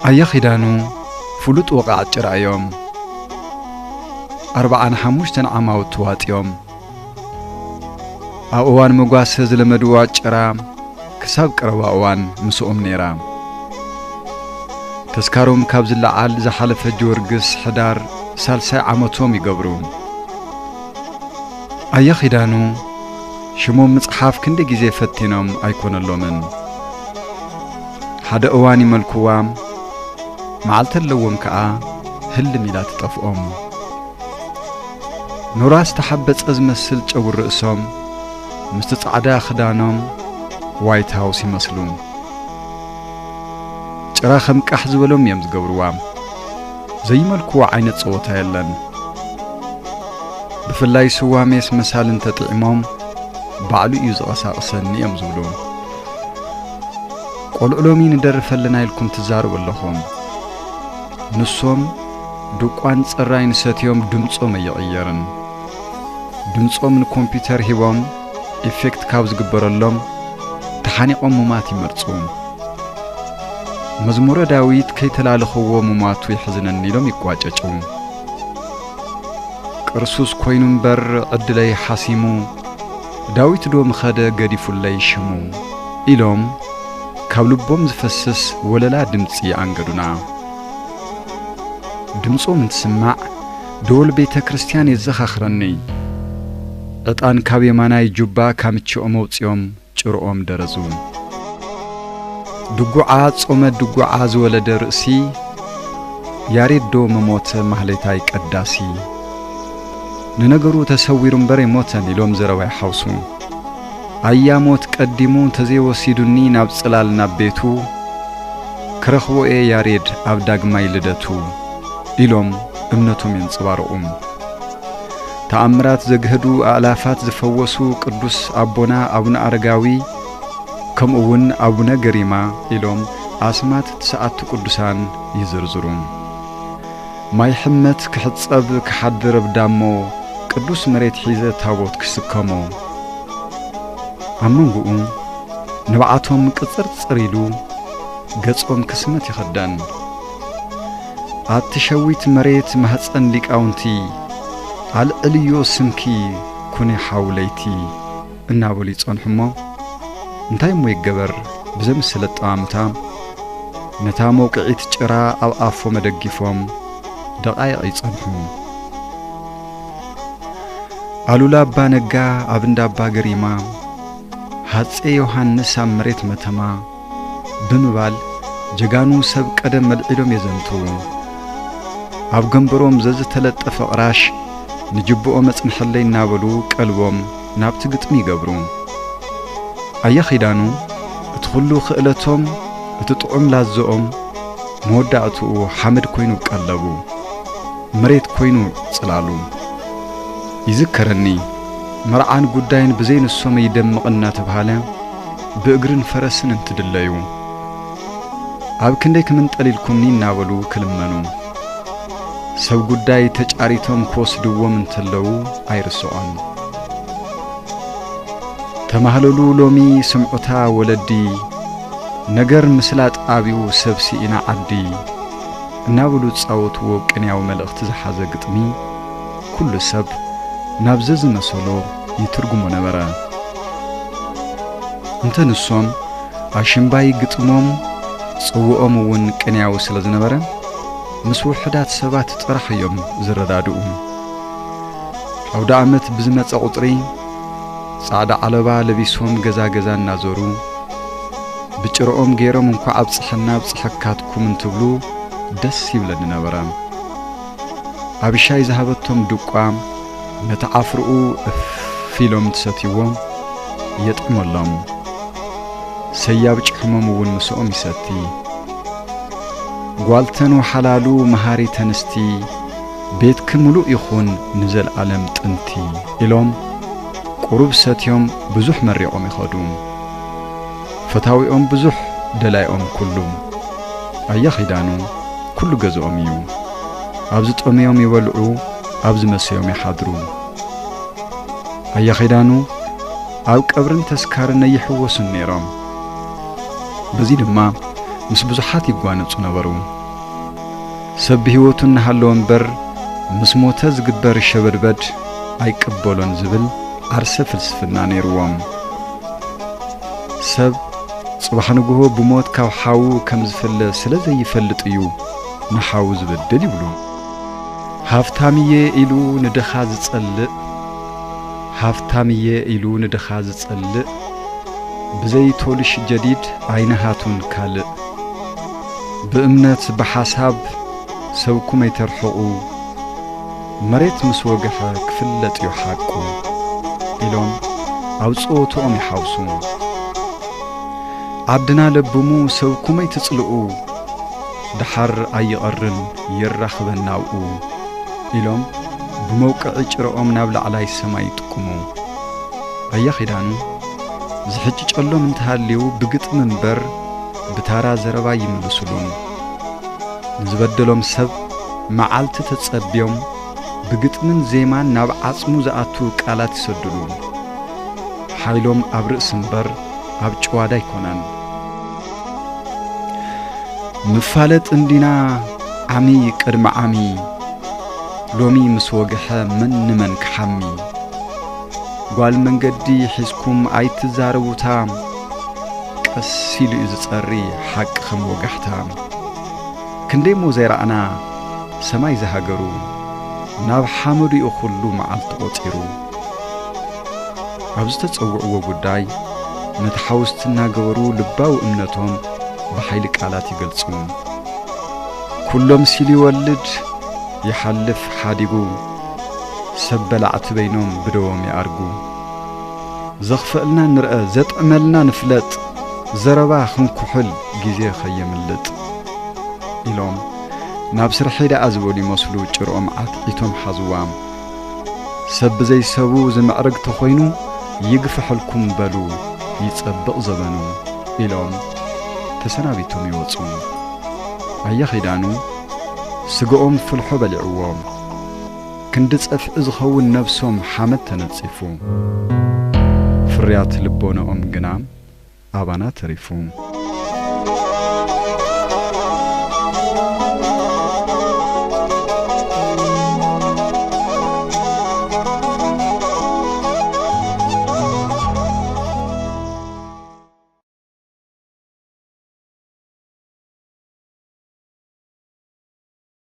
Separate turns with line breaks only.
ኣያ ኺዳኑ ፍሉጥ ወቓዕት ጭራ እዮም። ኣርብዓን ሓሙሽተን ዓማውት ተዋጢኦም ኣብ እዋን መጓሰ ዝለመድዋ ጭራ ክሳብ ቀረባ እዋን ምስኦም ነይራ። ተስካሮም ካብ ዝለዓል ዝሓለፈ ጀወርግስ ሕዳር ሳልሳይ ዓመቶም ይገብሩ። ኣያ ኺዳኑ ሽሞም ምጽሓፍ ክንዲ ግዜ ፈቲኖም ኣይኮነሎምን። ሓደ እዋን ይመልኩዋ መዓልቲ ኣለዎም ከኣ ህልም ኢላ ትጠፍኦም። ኑራ ዝተሓበጸ ዝመስል ጨጉሪ ርእሶም ምስቲ ጻዕዳ ክዳኖም ዋይት ሃውስ ይመስሉ። ጭራ ከም ቃሕ ዝበሎም እዮም ዝገብርዋ። ዘይመልኩዋ ዓይነት ጸወታ የለን። ብፍላይ ስዋ ሜስ መሳሊ እንተጥዒሞም ባዕሉ እዩ ዝቐሳቕሰኒ እዮም ዝብሉ። ቆልዑ ሎሚ ንደርፍ ኣለና ኢልኩም ትዛረቡ ኣለኹም ንሶም ድቋን ጽራይን ሰትዮም ድምጾም ኣይቕየርን ድምጾም ንኮምፒተር ሂቦም ኢፌክት ካብ ዝግበረሎም ተሓኒቖም ሙማት ይመርጹ መዝሙረ ዳዊት ከይተላለኽዎ ሙማቱ ይሕዝነኒ ኢሎም ይቋጨጩ ቅርሱስ ኮይኑ እምበር ዕድለይ ሓሲሙ ዳዊት ዶ ምኸደ ገዲፉለይ ሽሙ ኢሎም ካብ ልቦም ዝፈስስ ወለላ ድምጺ ኣንገዱና። ድምጾም እንትስማዕ ደወል ቤተ ክርስቲያን የዘኻኽረኒ። ዕጣን ካብ የማናይ ጁባ ካምችኦም ኣውጺኦም ጭርኦም ደረዙ። ድጉዓ ጾመ ድጉዓ ዝወለደ ርእሲ ያሬድ ዶ ምሞተ ማህሌታይ ቀዳሲ። ንነገሩ ተሰዊሩ እምበር ኣይሞተን ኢሎም ዘረባ ይሓውሱ። ኣያ ሞት ቀዲሙ እንተዘይወሲዱኒ ናብ ጽላል ናብ ቤቱ፣ ክረኽቦ'የ ያሬድ ኣብ ዳግማይ ልደቱ ኢሎም እምነቶም የንጸባርቑ። ተኣምራት ዘግህዱ፣ ኣእላፋት ዝፈወሱ ቅዱስ ኣቦና ኣቡነ ኣረጋዊ ከምኡ'ውን ኣቡነ ገሪማ ኢሎም ኣስማት ትስዓቱ ቅዱሳን ይዝርዝሩ። ማይ ሕመት ክሕጸብ ክሓድር እብ ዳሞ ቅዱስ መሬት ሒዘ ታቦት ክስከሞ ኣብ መንጉኡ ንብዓቶም ቅጽርጽር ኢሉ ገጾም ክስመት ይኸደን ኣቲ ሸዊት መሬት ማህጸን ሊቃውንቲ ኣልዕልዮ ስምኪ ኩኒ ሓው ለይቲ እናበሉ ይጸንሑ እሞ፣ እንታይ እሞ ይገበር ብዘምስል ኣጠማምታ፣ ነታ መውቅዒት ጭራ ኣብ ኣፎም ኣደጊፎም ደቓይቕ ይጸንሑ። ኣሉላ ኣባ ነጋ ኣብ እንዳ ኣባ ገሪማ፣ ሃጼ ዮሃንስ ኣብ መሬት መተማ፣ ብምባል ጀጋኑ ሰብ ቀደም መልዒሎም የዘንትዉ። ኣብ ገምበሮም ዘዝተለጠፈ ቕራሽ ንጅብኦም ኣጽንሐለይ እናበሉ ቀልቦም ናብቲ ግጥሚ ይገብሩ። ኣያ ኺዳኑ እቲ ኹሉ ክእለቶም እቲ ጥዑም ላዝኦም መወዳእትኡ ሓመድ ኮይኑ ቀለቡ፣ መሬት ኮይኑ ጽላሉ። ይዝከረኒ መርዓን ጉዳይን ብዘይ ንሶም ኣይደምቕን እናተብሃለ፣ ብእግርን ፈረስን እንትድለዩ፣ ኣብ ክንደይ ክምንጠል ኢልኩምኒ እናበሉ ክልመኑ፣ ሰብ ጉዳይ ተጫሪቶም ክወስድዎም እንተለዉ ኣይርስዖን። ተማህለሉ ሎሚ ስምዑታ ወለዲ፣ ነገር ምስላጥ ኣብዩ ሰብ ስኢና ዓዲ እናበሉ ዝፃወትዎ ቅንያዊ መልእኽቲ ዝሓዘ ግጥሚ ኩሉ ሰብ ናብ ዘዝመሰሎ ይትርጉሞ ነበረ። እንተ ንሶም ኣሽምባይ ግጥሞም ጽውኦም እውን ቅንያዊ ስለ ዝነበረ ምስ ውሑዳት ሰባት ጥራሕ እዮም ዝረዳድኡ። ኣውደ ዓመት ብዝመጸ ቁጽሪ ጻዕዳ ዓለባ ለቢሶም ገዛ ገዛ እናዞሩ ብጭርኦም ገይሮም እንኳዕ ኣብጽሐና ኣብጽሐካትኩም እንትብሉ ደስ ይብለኒ ነበረ። ኣብሻይ ዝሃበቶም ድቋም ነቲ ዓፍርኡ እፍ ኢሎም እንትሰትይዎ የጥዕመሎም። ሰያብ ጭሕሞም እውን ምስኦም ይሰቲ። ጓልተን ወሓላሉ መሃሪ ተንስቲ ቤትኪ ምሉእ ይኹን ንዘልኣለም ጥንቲ ኢሎም ቁሩብ ሰትዮም ብዙሕ መሪቖም ይኸዱ። ፈታዊኦም ብዙሕ ደላይኦም ኩሉ ኣያ ኺዳኑ ኩሉ ገዝኦም እዩ ኣብ ዝጠምዮም ይበልዑ ኣብ ዝመሰዮም ይሓድሩ ኣያ ኺዳኑ ኣብ ቀብርን ተስካርን ኣይሕወሱን ነይሮም በዚ ድማ ምስ ብዙሓት ይጓነጹ ነበሩ ሰብ ብህይወቱ እናሃለወ እምበር ምስ ሞተ ዝግበር ሸበድበድ ኣይቅበሎን ዝብል ዓርሰ ፍልስፍና ነይርዎም ሰብ ጽባሕ ንግሆ ብሞት ካብ ሓዉ ከም ዝፍለ ስለ ዘይፈልጥ እዩ ንሓዉ ዝበድል ይብሉ። ሃፍታም እየ ኢሉ ንድኻ ዝጸልእ ሃፍታም እየ ኢሉ ንድኻ ዝጸልእ ብዘይ ቶልሽ ጀዲድ ኣይንሃቱን ካልእ ብእምነት ብሓሳብ ሰብኩም ኣይተርሕቑ። መሬት ምስ ወግሐ ክፍለጥ'ዩ ሓቁ ኢሎም ኣብ ጸወትኦም ይሓውሱ። ዓድና ለብሙ ሰብኩመይ ትጽልኡ ደሓር ኣይቐርን የራኽበና ኣብኡ ኢሎም ብመውቅዒ ጭረኦም ናብ ላዕላይ ሰማይ ይጥቁሙ። ኣያ ኪዳኑ ዝሕጭጨሎም እንተሃልዩ ብግጥሚ እምበር ብታራ ዘረባ ኣይምልሱሉን። ንዝበደሎም ሰብ መዓልቲ ተጸብዮም ብግጥምን ዜማን ናብ ዓጽሙ ዝኣቱ ቃላት ይሰድሉ። ሓይሎም ኣብ ርእሲ እምበር ኣብ ጭዋዳ ኣይኮነን። ንፋለጥ እንዲና ዓሚ ቅድሚ ዓሚ ሎሚ ምስ ወግሐ መን ንመን ክሓሚ ጓል መንገዲ ሒዝኩም ኣይትዛረቡታ ቀስ ኢሉ እዩ ዝጸሪ ሓቂ ከም ወጋሕታ ክንደይ እሞ ዘይረኣና ሰማይ ዝሃገሩ ናብ ሓመዱ እዩ ኩሉ መዓልቲ ቆጺሩ ኣብ ዝተጸውዕዎ ጉዳይ ነቲ ሓውስቲ እናገበሩ ልባዊ እምነቶም ብሓይሊ ቃላት ይገልጹ ኩሎም ሲሉ ይወልድ ይሓልፍ ሓዲጉ ሰብ በላዕቲ በይኖም ብደዎም ይኣርጉ ዘኽፍእልና ንርኣ ዘጥዕመልና ንፍለጥ ዘረባ ክንኩሕል ግዜ ከየምልጥ ኢሎም ናብ ስርሐይ ደኣ ዝበሉ ይመስሉ ጭርኦም ዓትዒቶም ሓዝዋም ሰብ ብዘይሰቡ ዝምዕርግ ተኾይኑ ይግፈሐልኩም በሉ ይጸብቕ ዘበኑ ኢሎም ተሰናቢቶም ይወጹ ኣያ ኺዳኑ ስግኦም ፍልሖ በሊዕዎም ክንዲ ጸፍዒ ዝኸውን ነብሶም ሓመድ ተነጺፉ። ፍርያት ልቦናኦም ግና ኣባና ተሪፉ።